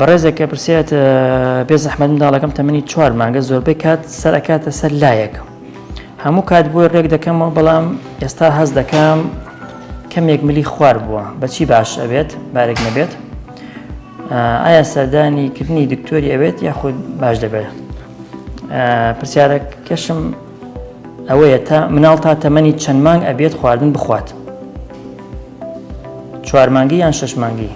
بەڕێزێکە پرسیات بێ زەحمەت منداڵەکەم تەمەنی چوار مانگە زۆربەی کات سەر ئەکاتە سەر لایەکە هەموو کات بۆی ڕێک دەکەمەوە بەڵام ئێستا هەز دەکەم کەمێک ملی خوار بووە بەچی باش ئەبێت بارێک نەبێت ئایا سەردانی کردنی دکتۆری ئەوێت یاخود باش دەبێت پرسیارەکەشم ئەوەیە تا مناڵ تا تەمەنی چەند مانگ ئەبێت خواردن بخوات چوار مانگی یان شش مانگی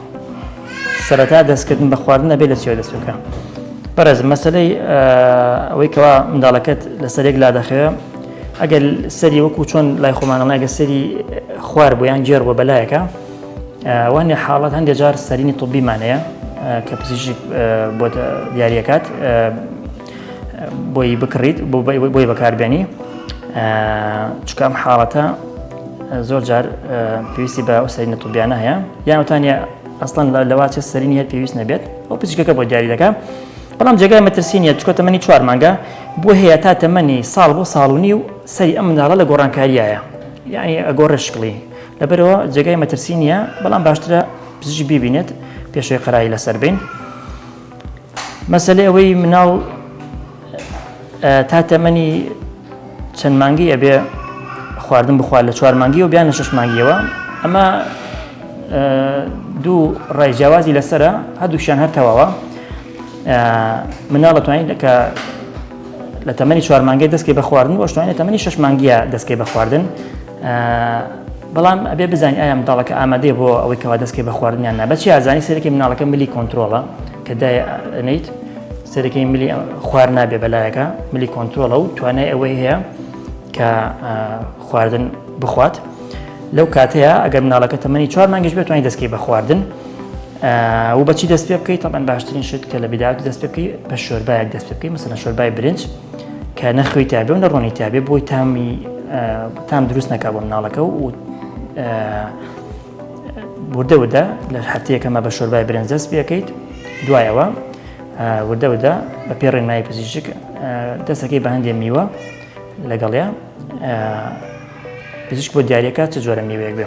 سەرەتا دەستکردن بە خواردن ئەبێ لە چێ دەست بکە بەڕێز مەسلەی ئەوەی کەوا منداڵەکەت لەسەر یەک لا دەخەوێ ئەگەر سەری وەکو چۆن لای خۆمانەڵایگە سەری خوار بۆیان گێر بۆ بەلایەکە وانێ حاڵەت هەندێک جار سەرینی طببیمانەیە کە پزیشک بۆ دیارەکات بۆی بکڕیت بۆی بەکاربێنی چکام حاڵەتە زۆر جار پێویستی بە ئەو سەرینە توبیانە هەیە یانوتانە ئەستان لەواچە سەرینی هەیە پێویست نەبێت ئەو پزیشکەکە بۆ دیاری دەکە بەڵام جێگای مەترسی نیە چکە تەمەنی چوار مانگە بۆ هەیە تا تەمەنی ساڵ بۆ ساڵونی و سەری ئەم مناڵە لە گۆڕانکاریایە یعنی ئەگۆڕە شکڵی لەبەرەوە جێگای مەترسی نییە بەڵام باشترە پزیشی ببینێت پێشوی قەرایی لەسەر بین. مەسەلەی ئەوەی مناڵ تا تەمەنی چەند مانگی ئەبێ خواردن بخوارد لە چوار مانگی و بیان لە شش مانگیەوە ئەمە دوو ڕای جیاوازی لەسرە هەردووشیان هەر تەواوە مناڵە توانین کە لە تەمەنی چوار مانگی دەستکەی بە خواردن وەشتوانێت تەمەنی شش مانگیە دەستکەی بە خواردن بەڵام ئەبێ بزانین ئایا منداڵەکە ئامادەێ بۆ ئەوەی کەوا دەستکەی بە خواردنیان نا بەچی ئازانی سەرەکی مناڵەکە ملی کۆنتترۆڵە کە دانیت سەرەکەی ملی خوار نابێ بەلایەکە ملی کۆنتترۆڵە و توانای ئەوەی هەیە کە خواردن بخوات لەو کاتەیە ئەگەر مناڵەکە تەمەنی چوار مانگش بێتوانانی دەستکەی بە خواردن و بەچی دەست پێ بکەیت تەمان باشترین شت کە لە بدات دەست پێ بکەی بە شۆربایەک دەست پێ بکەی مەسەنە شۆربای برنج کە نەخوێی تابێ و نەڕۆنی تابێ بۆی تامی تام دروست نەکە بۆ مناڵەکە و وردە وردە لە هەفتەیەکەمە بە شۆربای برنجەست بەکەیت دوایەوە وردە وردە بە پێ ڕێنمایی پزیشک دەستەکەی بە هەندێ میوە لەگەڵیا پزیشک بۆ دیارەکە چ جۆرە میوەیەک بێ